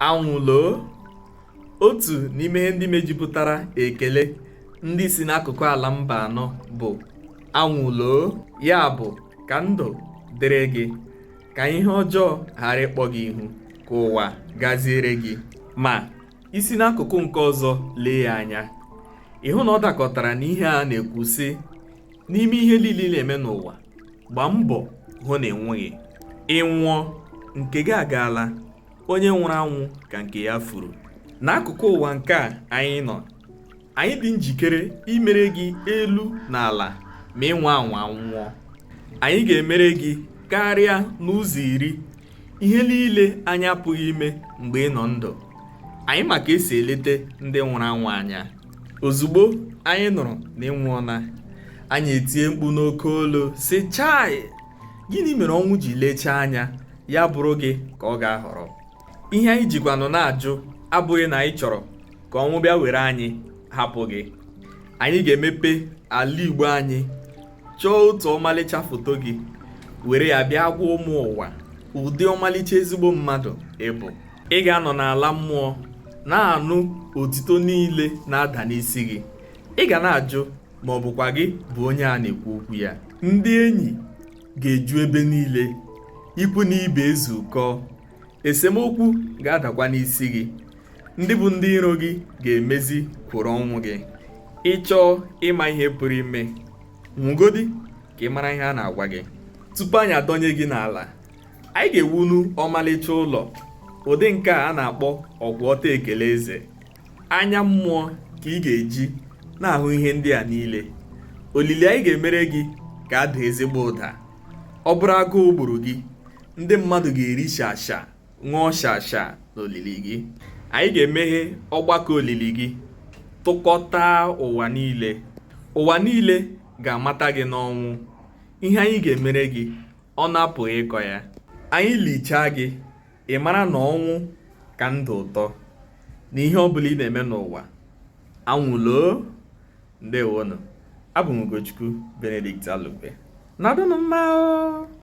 anwụloo otu n'ime ihe ndị mejupụtara ekele ndị si n'akụkụ ala mba anọ bụ anwụloo ya bụ ka ndụ dịrị gị ka ihe ọjọọ ghara ịkpọ gị ihu ka ụwa gaziere gị ma i si n'akụkụ nke ọzọ lee ya anya ị hụ na ọ dakọtara n'ihe a na-ekwu sị n'ime ihe niile ị na-eme n'ụwa gbaa mbọ hụ na ị nwụghị ị nwụọ nke gị agaala onye nwụrụ anwụ ka nke ya furu n'akụkụ ụwa nke a anyị nọ anyị dị njikere imere gị elu na ala ma ị nwaa anwa nwụọ anyị ga-emere gị karịa n'ụzọ iri ihe niile anyị apụghị ime mgbe ị nọ ndụ anyị ma ka e si elete ndị nwụrụ anwụ anya ozugbo anyị nụrụ na ị nwụọla anyị etie mkpu n'oke olu sị chai gịnị mere ọnwụ ji lechaa anya ya bụrụ gị ka ọ ga-ahọrọ ihe anyị jikwanụ na-ajụ abụghị na anyị chọrọ ka ọnwụ bịa were anyị hapụ gị anyị ga-emepe ala igbo anyị chọọ otu ọmalịcha foto gị were ya bịa gwa ụmụ ụwa ụdị ọmalịcha ezigbo mmadụ ị bụ ị ga-anọ n'ala mmụọ na-anụ otito niile na-ada n'isi gị ị ga na-ajụ ma ọ bụkwa gị bụ onye a na-ekwu okwu ya ndị enyi ga-eju ebe niile ikwu na ibe ezukọ esemokwu ga-adakwa n'isi gị ndị bụ ndị iro gị ga-emezi kwuru ọnwụ gị ị chọọ ịma ihe pụrụ ime nwụgodi ka ị mara ihe a na-agwa gị tupu anyị adọnye gị n'ala anyị ga-ewunu ọmalịcha ụlọ ụdị nke a a na-akpọ ọkwụ ọtọ ekele eze anya mmụọ ka ị ga-eji na-ahụ ihe ndị a niile olili anyị ga-emere gị ga-ada ezigbo ụda ọ bụrụ agụụ gburu gị ndị mmadụ ga-eri shasha ṅụọ shasha n'olili gị anyị ga-emeghe ọgbakọ olili gị tụkọta ụwa niile ụwa niile ga-amata gị n'ọnwụ ihe anyị ga-emere gị ọnụ apụghị ịkọ ya anyị lichaa gị ị mara na ọnwụ ka ndụ ụtọ n'ihe ọ bụla ị na-eme n'ụwa anwụloo ndewonụ abụ m Ugochukwu Benedict Alugbe nọdụnụ mma